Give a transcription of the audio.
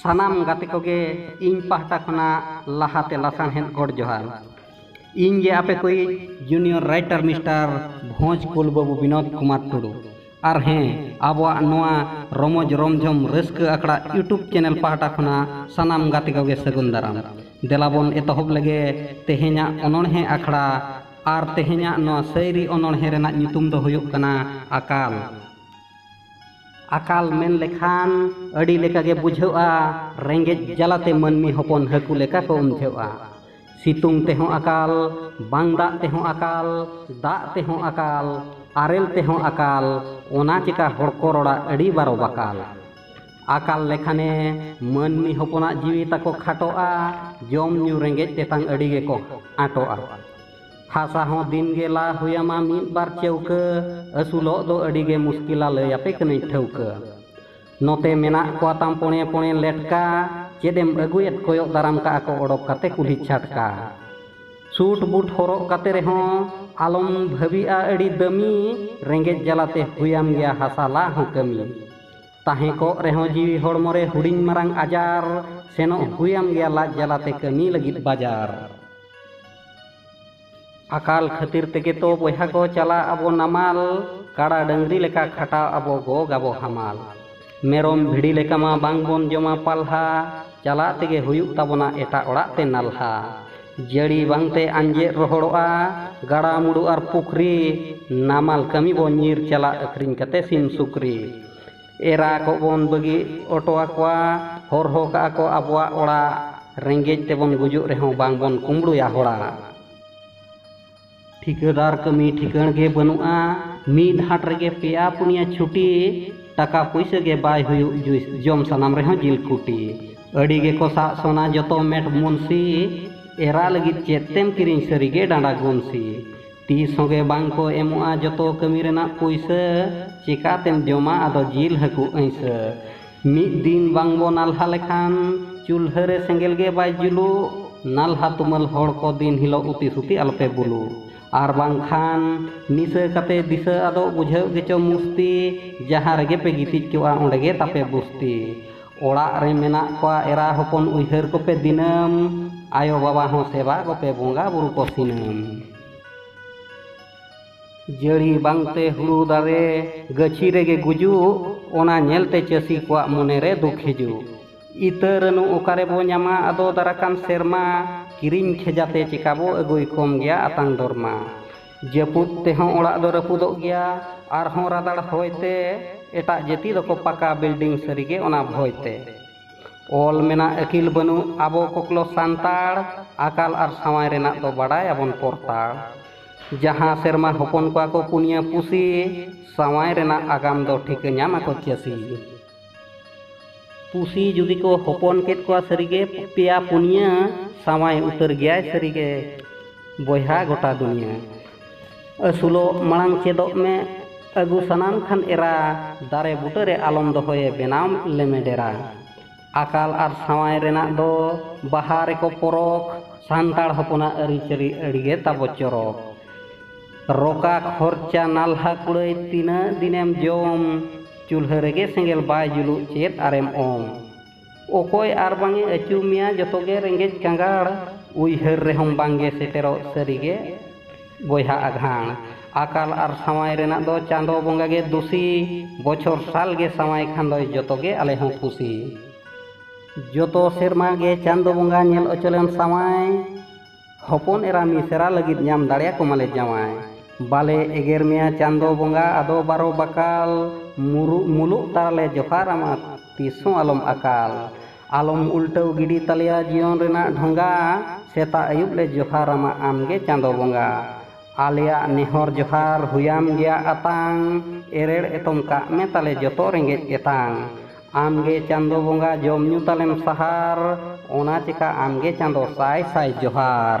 ᱥᱟᱱᱟᱢ ᱜᱟᱛᱮ ᱠᱚᱜᱮ ᱤᱧ ᱯᱟᱦᱴᱟ ᱠᱷᱚᱱᱟᱜ ᱞᱟᱦᱟᱛᱮ ᱞᱟᱥᱟᱬᱦᱮᱫ ᱜᱚᱰ ᱡᱚᱦᱟᱨ ᱤᱧ ᱜᱮ ᱟᱯᱮ ᱠᱚᱭᱤᱡ ᱡᱩᱱᱤᱭᱚᱨ ᱨᱟᱭᱴᱟᱨ ᱢᱤᱥᱴᱟᱨ ᱵᱷᱚᱸᱡᱽ ᱠᱩᱞ ᱵᱟᱹᱵᱩ ᱵᱤᱱᱳᱫ ᱠᱩᱢᱟᱨ ᱴᱩᱰᱩ ᱟᱨ ᱦᱮᱸ ᱟᱵᱚᱣᱟᱜ ᱱᱚᱣᱟ ᱨᱚᱢᱚᱡᱽ ᱨᱚᱢᱡᱷᱚᱢ ᱨᱟᱹᱥᱠᱟᱹ ᱟᱠᱷᱲᱟ ᱤᱭᱩᱴᱩᱵᱽ ᱪᱮᱱᱮᱞ ᱯᱟᱦᱴᱟ ᱠᱷᱚᱱᱟᱜ ᱥᱟᱱᱟᱢ ᱜᱟᱛᱮ ᱠᱚᱜᱮ ᱥᱟᱹᱜᱩᱱ ᱫᱟᱨᱟᱢ ᱫᱮᱞᱟ ᱵᱚᱱ ᱮᱛᱚᱦᱚᱵ ᱞᱮᱜᱮ ᱛᱮᱦᱮᱧᱟᱜ ᱚᱱᱚᱬᱦᱮ ᱟᱠᱷᱲᱟ ᱟᱨ ᱛᱮᱦᱮᱧᱟᱜ ᱱᱚᱣᱟ ᱥᱟᱹᱭᱨᱤ ᱚᱱᱚᱬᱦᱮ ᱨᱮᱱᱟᱜ ᱧᱩᱛᱩᱢ ᱫᱚ ᱦᱩᱭᱩᱜ ᱠᱟᱱᱟ ᱟᱠᱟᱞ ᱟᱠᱟᱞ ᱢᱮᱱ ᱞᱮᱠᱷᱟᱱ ᱟᱹᱰᱤ ᱞᱮᱠᱟᱜᱮ ᱵᱩᱡᱷᱟᱹᱜᱼᱟ ᱨᱮᱸᱜᱮᱡ ᱡᱟᱞᱟᱛᱮ ᱢᱟᱹᱱᱢᱤ ᱦᱚᱯᱚᱱ ᱦᱟᱹᱠᱩ ᱞᱮᱠᱟ ᱠᱚ ᱩᱢᱡᱷᱟᱹᱜᱼᱟ ᱥᱤᱛᱩᱝ ᱛᱮᱦᱚᱸ ᱟᱠᱟᱞ ᱵᱟᱝ ᱫᱟᱜ ᱛᱮᱦᱚᱸ ᱟᱠᱟᱞ ᱫᱟᱜ ᱛᱮᱦᱚᱸ ᱟᱠᱟᱞ ᱟᱨᱮᱞ ᱛᱮᱦᱚᱸ ᱟᱠᱟᱞ ᱚᱱᱟ ᱪᱮᱠᱟ ᱦᱚᱲ ᱠᱚ ᱨᱚᱲᱟ ᱟᱹᱰᱤ ᱵᱟᱨᱚ ᱵᱟᱠᱟᱞ ᱟᱠᱟᱞ ᱞᱮᱠᱷᱟᱱᱮ ᱢᱟᱹᱱᱢᱤ ᱦᱚᱯᱚᱱᱟᱜ ᱡᱤᱣᱤ ᱛᱟᱠᱚ ᱠᱷᱟᱴᱚᱜᱼᱟ ᱡᱚᱢ ᱧᱩ ᱨᱮᱸᱜᱮᱡ ᱛᱮᱛᱟᱝ ᱟᱹᱰᱤ ᱜᱮᱠᱚ ᱟᱸᱴᱚᱜᱼᱟ ᱦᱟᱥᱟ ᱦᱚᱸ ᱫᱤᱱ ᱜᱮ ᱞᱟ ᱦᱩᱭᱟᱢᱟ ᱢᱤᱫ ᱵᱟᱨ ᱪᱟᱹᱣᱠᱟᱹ ᱟᱹᱥᱩᱞᱚᱜ ᱫᱚ ᱟᱹᱰᱤ ᱜᱮ ᱢᱩᱥᱠᱤᱞᱟ ᱞᱟᱹᱭ ᱟᱯᱮ ᱠᱟᱹᱱᱟᱹᱧ ᱴᱷᱟᱹᱣᱠᱟᱹ ᱱᱚᱛᱮ ᱢᱮᱱᱟᱜ ᱠᱚᱣᱟ ᱛᱟᱢ ᱯᱚᱬᱮ ᱯᱚᱬᱮ ᱞᱮᱴᱠᱟ ᱪᱮᱫ ᱮᱢ ᱟᱹᱜᱩᱭᱮᱫ ᱠᱚᱭᱚᱜ ᱫᱟᱨᱟᱢ ᱠᱟᱜᱼᱟ ᱠᱚ ᱚᱰᱚᱠ ᱠᱟᱛᱮ ᱠᱩᱞᱦᱤ ᱪᱷᱟᱴᱠᱟ ᱥᱩᱴ ᱵᱩᱴ ᱦᱚᱨᱚᱜ ᱠᱟᱛᱮ ᱨᱮᱦᱚᱸ ᱟᱞᱚᱢ ᱵᱷᱟᱹᱵᱤᱜᱼᱟ ᱟᱹᱰᱤ ᱫᱟᱹᱢᱤ ᱨᱮᱸᱜᱮᱡ ᱡᱟᱞᱟᱛᱮ ᱦᱩᱭᱟᱢ ᱜᱮᱭᱟ ᱦᱟᱥᱟ ᱞᱟ ᱦᱚᱸ ᱠᱟᱹᱢᱤ ᱛᱟᱦᱮᱸ ᱠᱚᱜ ᱨᱮᱦᱚᱸ ᱡᱤᱣᱤ ᱦᱚᱲᱢᱚ ᱨᱮ ᱦᱩᱰᱤᱧ ᱢᱟᱨᱟᱝ ᱟᱡᱟᱨ ᱥᱮᱱᱚᱜ ᱦᱩᱭᱟᱢ ᱜᱮᱭᱟ ᱞᱟᱡ ᱡᱟᱞᱟᱛᱮ ᱠᱟᱹᱢᱤ ᱞᱟᱹᱜᱤᱫ ᱵᱟᱡᱟᱨ ᱟᱠᱟᱞ ᱠᱷᱟᱹᱛᱤᱨ ᱛᱮᱜᱮ ᱛᱚ ᱵᱚᱭᱦᱟ ᱠᱚ ᱪᱟᱞᱟᱜ ᱟᱵᱚ ᱱᱟᱢᱟᱞ ᱠᱟᱲᱟ ᱰᱟᱹᱝᱨᱤ ᱞᱮᱠᱟ ᱠᱷᱟᱴᱟᱣ ᱟᱵᱚ ᱜᱚᱜ ᱟᱵᱚ ᱦᱟᱢᱟᱞ ᱢᱮᱨᱚᱢ ᱵᱷᱤᱲᱤ ᱞᱮᱠᱟ ᱢᱟ ᱵᱟᱝ ᱵᱚᱱ ᱡᱚᱢᱟ ᱯᱟᱞᱦᱟ ᱪᱟᱞᱟᱜ ᱛᱮᱜᱮ ᱦᱩᱭᱩᱜ ᱛᱟᱵᱚᱱᱟ ᱮᱴᱟᱜ ᱚᱲᱟᱜ ᱛᱮ ᱱᱟᱞᱦᱟ ᱡᱟᱹᱲᱤ ᱵᱟᱝᱛᱮ ᱟᱸᱡᱮᱫ ᱨᱚᱦᱚᱲᱚᱜᱼᱟ ᱜᱟᱰᱟ ᱢᱩᱰᱩ ᱟᱨ ᱯᱩᱠᱷᱨᱤ ᱱᱟᱢᱟᱞ ᱠᱟᱹᱢᱤ ᱵᱚᱱ ᱧᱤᱨ ᱪᱟᱞᱟᱜ ᱟᱹᱠᱷᱨᱤᱧ ᱠᱟᱛᱮ ᱥᱤᱢ ᱥᱩᱠᱨᱤ ᱮᱨᱟ ᱠᱚᱵᱚᱱ ᱵᱟᱹᱜᱤ ᱚᱴᱚ ᱟᱠᱚᱣᱟ ᱦᱚᱨᱦᱚ ᱠᱟᱜᱼᱟ ᱠᱚ ᱟᱵᱚᱣᱟᱜ ᱚᱲᱟᱜ ᱨᱮᱸᱜᱮᱡ ᱛᱮᱵᱚᱱ ᱜᱩᱡᱩᱜ ᱨᱮᱦᱚᱸ ᱵᱟᱝᱵᱚᱱ ᱠᱩᱢᱵᱽᱲᱩᱭᱟ ᱦᱚᱲᱟᱜ ᱴᱷᱤᱠᱟᱹᱫᱟᱨ ᱠᱟᱹᱢᱤ ᱴᱷᱤᱠᱟᱹᱬ ᱜᱮ ᱵᱟᱹᱱᱩᱜᱼᱟ ᱢᱤᱫ ᱦᱟᱴ ᱨᱮᱜᱮ ᱯᱮᱭᱟ ᱯᱩᱱᱭᱟ ᱪᱷᱩᱴᱤ ᱴᱟᱠᱟ ᱯᱩᱭᱥᱟᱹ ᱜᱮ ᱵᱟᱭ ᱦᱩᱭᱩᱜ ᱡᱩᱭᱥ ᱡᱚᱢ ᱥᱟᱱᱟᱢ ᱨᱮᱦᱚᱸ ᱡᱤᱞ ᱠᱩᱴᱤ ᱟᱹᱰᱤ ᱜᱮᱠᱚ ᱥᱟᱜ ᱥᱚᱱᱟ ᱡᱚᱛᱚ ᱢᱮᱴ ᱢᱩᱱᱥᱤ ᱮᱨᱟ ᱞᱟᱹᱜᱤᱫ ᱪᱮᱫ ᱛᱮᱢ ᱠᱤᱨᱤᱧ ᱥᱟᱹᱨᱤᱜᱮ ᱰᱟᱸᱰᱟ ᱜᱩᱱᱥᱤ ᱛᱤᱥ ᱦᱚᱸ ᱜᱮ ᱵᱟᱝ ᱠᱚ ᱮᱢᱚᱜᱼᱟ ᱡᱚᱛᱚ ᱠᱟᱹᱢᱤ ᱨᱮᱱᱟᱜ ᱯᱩᱭᱥᱟᱹ ᱪᱮᱠᱟ ᱛᱮᱢ ᱡᱚᱢᱟ ᱟᱫᱚ ᱡᱤᱞ ᱦᱟᱹᱠᱩ ᱟᱹᱭᱥᱟᱹ ᱢᱤᱫ ᱫᱤᱱ ᱵᱟᱝ ᱵᱚ ᱱᱟᱞᱦᱟ ᱞᱮᱠᱷᱟᱱ ᱪᱩᱞᱦᱟᱹ ᱨᱮ ᱥᱮᱸᱜᱮᱞ ᱜᱮ ᱵᱟᱭ ᱡᱩᱞᱩᱜ ᱱᱟᱞᱦᱟ ᱛᱩᱢᱟᱹᱞ ᱦᱚᱲ ᱠᱚ ᱫᱤᱱ ᱦᱤᱞᱚᱜ ᱩᱛᱤ ᱥᱩᱛᱤ ᱟᱞᱚ ᱯᱮ ᱵᱩᱞᱩᱜ ᱟᱨ ᱵᱟᱝ ᱠᱷᱟᱱ ᱱᱤᱥᱟᱹ ᱠᱟᱛᱮ ᱫᱤᱥᱟᱹ ᱟᱫᱚᱜ ᱵᱩᱡᱷᱟᱹᱣᱜ ᱜᱮᱪᱚ ᱢᱩᱥᱛᱤ ᱡᱟᱦᱟᱸ ᱨᱮᱜᱮ ᱯᱮ ᱜᱤᱛᱤᱡ ᱠᱚᱜᱼᱟ ᱚᱸᱰᱮ ᱜᱮ ᱛᱟᱯᱮ ᱵᱩᱥᱛᱤ ᱚᱲᱟᱜ ᱨᱮ ᱢᱮᱱᱟᱜ ᱠᱚᱣᱟ ᱮᱨᱟ ᱦᱚᱯᱚᱱ ᱩᱭᱦᱟᱹᱨ ᱠᱚᱯᱮ ᱫᱤᱱᱟᱹᱢ ᱟᱭᱳ ᱵᱟᱵᱟ ᱦᱚᱸ ᱥᱮᱵᱟ ᱠᱚᱯᱮ ᱵᱚᱸᱜᱟ ᱵᱩᱨᱩ ᱠᱚ ᱥᱤᱱᱟᱹᱢ ᱡᱟᱹᱲᱤ ᱵᱟᱝᱛᱮ ᱦᱩᱲᱩ ᱫᱟᱨᱮ ᱜᱟᱹᱪᱷᱤ ᱨᱮᱜᱮ ᱜᱩᱡᱩᱜ ᱚᱱᱟ ᱧᱮᱞᱛᱮ ᱪᱟᱹᱥᱤ ᱠᱚᱣᱟᱜ ᱢᱚᱱᱮᱨᱮ ᱫᱩᱠ ᱦᱤᱡᱩᱜ ᱤᱛᱟᱹ ᱨᱟᱹᱱᱩ ᱚᱠᱟᱨᱮ ᱵᱚ ᱧᱟᱢᱟ ᱟᱫᱚ ᱫᱟᱨᱟᱠᱟᱱ ᱥᱮᱨᱢᱟ ᱠᱤᱨᱤᱧ ᱠᱷᱮᱡᱟᱛᱮ ᱪᱮᱠᱟ ᱵᱚ ᱟᱹᱜᱩᱭ ᱠᱚᱢ ᱜᱮᱭᱟ ᱟᱛᱟᱝ ᱫᱚᱨᱢᱟ ᱡᱟᱹᱯᱩᱫ ᱛᱮᱦᱚᱸ ᱚᱲᱟᱜ ᱫᱚ ᱨᱟᱹᱯᱩᱫᱚᱜ ᱜᱮᱭᱟ ᱟᱨᱦᱚᱸ ᱨᱟᱫᱟᱲ ᱦᱚᱭ ᱛᱮ ᱮᱴᱟᱜ ᱡᱟᱹᱛᱤ ᱫᱚᱠᱚ ᱯᱟᱠᱟ ᱵᱤᱞᱰᱤᱝ ᱥᱟᱹᱨᱤ ᱜᱮ ᱚᱱᱟ ᱵᱷᱚᱭ ᱛᱮ ᱚᱞ ᱢᱮᱱᱟᱜ ᱟᱹᱠᱤᱞ ᱵᱟᱹᱱᱩᱜ ᱟᱵᱚ ᱠᱚᱠᱞᱚ ᱥᱟᱱᱛᱟᱲ ᱟᱠᱟᱞ ᱟᱨ ᱥᱟᱶᱟᱭ ᱨᱮᱱᱟᱜ ᱫᱚ ᱵᱟᱰᱟᱭ ᱟᱵᱚᱱ ᱯᱚᱨᱛᱟᱲ ᱡᱟᱦᱟᱸ ᱥᱮᱨᱢᱟ ᱦᱚᱯᱚᱱ ᱠᱚᱣᱟ ᱠᱚ ᱯᱩᱱᱭᱟᱹ ᱯᱩᱥᱤ ᱥᱟᱶᱟᱭ ᱨᱮᱱᱟᱜ ᱟᱜᱟᱢ ᱫᱚ ᱴᱷᱤᱠᱟᱹ ᱧᱟᱢ ᱟᱠᱚ ᱪᱟᱹᱥᱤ ᱯᱩᱥᱤ ᱡᱩᱫᱤ ᱠᱚ ᱦᱚᱯᱚᱱ ᱠᱮᱫ ᱠᱚᱣᱟ ᱥᱟᱹᱨᱤᱜᱮ ᱯᱮᱭᱟ ᱯᱩᱱᱭᱟᱹ ᱥᱟᱶᱟᱭ ᱩᱛᱟᱹᱨ ᱜᱮᱭᱟᱭ ᱥᱟᱹᱨᱤᱜᱮ ᱵᱚᱭᱦᱟ ᱜᱚᱴᱟ ᱫᱩᱱᱤᱭᱟᱹ ᱟᱹᱥᱩᱞᱚᱜ ᱢᱟᱲᱟᱝ ᱪᱮᱫᱚᱜ ᱢᱮ ᱟᱹᱜᱩ ᱥᱟᱱᱟᱢ ᱠᱷᱟᱱ ᱮᱨᱟ ᱫᱟᱨᱮ ᱵᱩᱴᱟᱹᱨᱮ ᱟᱞᱚᱢ ᱫᱚᱦᱚᱭᱮ ᱵᱮᱱᱟᱣ ᱞᱮᱢᱮ ᱰᱮᱨᱟ ᱟᱠᱟᱞ ᱟᱨ ᱥᱟᱶᱟᱭ ᱨᱮᱱᱟᱜ ᱫᱚ ᱵᱟᱦᱟ ᱨᱮᱠᱚ ᱯᱚᱨᱚᱠ ᱥᱟᱱᱛᱟᱲ ᱦᱚᱯᱚᱱᱟᱜ ᱟᱹᱨᱤᱪᱟᱹᱞᱤ ᱟᱹᱰᱤᱜᱮ ᱛᱟᱵᱚ ᱪᱚᱨᱚᱠ ᱨᱚᱠᱟ ᱠᱷᱚᱨᱪᱟ ᱱᱟᱞᱦᱟ ᱠᱩᱲᱟᱹᱭ ᱛᱤᱱᱟᱹᱜ ᱫᱤᱱᱮᱢ ᱡᱚᱢ ᱪᱩᱞᱦᱟᱹ ᱨᱮᱜᱮ ᱥᱮᱸᱜᱮᱞ ᱵᱟᱭ ᱡᱩᱞᱩᱜ ᱪᱮᱫ ᱟᱨᱮᱢ ᱚᱝ ᱚᱠᱚᱭ ᱟᱨ ᱵᱟᱝᱮ ᱟᱹᱪᱩ ᱢᱮᱭᱟ ᱡᱚᱛᱚ ᱜᱮ ᱨᱮᱸᱜᱮᱡ ᱠᱟᱸᱜᱟᱲ ᱩᱭᱦᱟᱹᱨ ᱨᱮᱦᱚᱸ ᱵᱟᱝᱜᱮ ᱥᱮᱴᱮᱨᱚᱜ ᱥᱟᱹᱨᱤ ᱜᱮ ᱵᱚᱭᱦᱟ ᱟᱜᱷᱟᱬ ᱟᱠᱟᱞ ᱟᱨ ᱥᱟᱶᱟᱭ ᱨᱮᱱᱟᱜ ᱫᱚ ᱪᱟᱸᱫᱚ ᱵᱚᱸᱜᱟ ᱜᱮ ᱫᱩᱥᱤ ᱵᱚᱪᱷᱚᱨ ᱥᱟᱞ ᱜᱮ ᱥᱟᱶᱟᱭ ᱠᱷᱟᱱ ᱫᱚᱭ ᱡᱚᱛᱚ ᱜᱮ ᱟᱞᱮ ᱦᱚᱸ ᱠᱩᱥᱤ ᱡᱚᱛᱚ ᱥᱮᱨᱢᱟ ᱜᱮ ᱪᱟᱸᱫᱚ ᱵᱚᱸᱜᱟ ᱧᱮᱞ ᱚᱪᱚᱞᱮᱢ ᱥᱟᱶᱟᱭ ᱦᱚᱯᱚᱱ ᱮᱨᱟ ᱢᱤᱥᱮᱨᱟ ᱞᱟᱹᱜᱤᱫ ᱧᱟᱢ ᱫᱟᱲᱮᱭᱟ ᱠᱚᱢᱟᱞᱮ ᱡᱟᱶᱟᱭ᱾ ᱵᱟᱞᱮ ᱮᱜᱮᱨ ᱢᱮᱭᱟ ᱪᱟᱸᱫᱚ ᱵᱚᱸᱜᱟ ᱟᱫᱚ ᱵᱟᱨᱚ ᱵᱟᱠᱟᱞ᱾ ᱢᱩᱨᱩᱜ ᱢᱩᱞᱩᱜ ᱛᱟᱨᱟ ᱞᱮ ᱡᱚᱦᱟᱨ ᱟᱢᱟ ᱛᱤᱥ ᱦᱚᱸ ᱟᱞᱚᱢ ᱟᱠᱟᱞ᱾ ᱟᱞᱚᱢ ᱩᱞᱴᱟᱹᱣ ᱜᱤᱰᱤ ᱛᱟᱞᱮᱭᱟ ᱡᱤᱭᱚᱱ ᱨᱮᱱᱟᱜ ᱰᱷᱚᱸᱜᱟ᱾ ᱥᱮᱛᱟᱜ ᱟᱹᱭᱩᱵ ᱞᱮ ᱡᱚᱦᱟᱨ ᱟᱢᱟ ᱟᱢ ᱜᱮ ᱪᱟᱸᱫᱚ ᱵᱚᱸᱜᱟ᱾ ᱟᱞᱮᱭᱟᱜ ᱱᱮᱦᱚᱨ ᱡᱚᱦᱟᱨ ᱦᱩᱭᱟᱢ ᱜᱮᱭᱟ ᱟᱛᱟᱝ᱾ ᱮᱨᱮᱲ ᱮᱛᱚᱢ ᱠᱟᱜ ᱢᱮ ᱛᱟᱞᱮ ᱡᱚᱛᱚ ᱨᱮᱸᱜᱮᱡ ᱮᱛᱟᱝ᱾ ᱟᱢᱜᱮ ᱪᱟᱸᱫᱚ ᱵᱚᱸᱜᱟ ᱡᱚᱢ ᱧᱩ ᱛᱟᱞᱮᱢ ᱥᱟᱦᱟᱨ ᱚᱱᱟ ᱪᱮᱠᱟ ᱟᱢᱜᱮ ᱪᱟᱸᱫᱚ ᱥᱟᱭ ᱥᱟᱭ ᱡᱚᱦᱟᱨ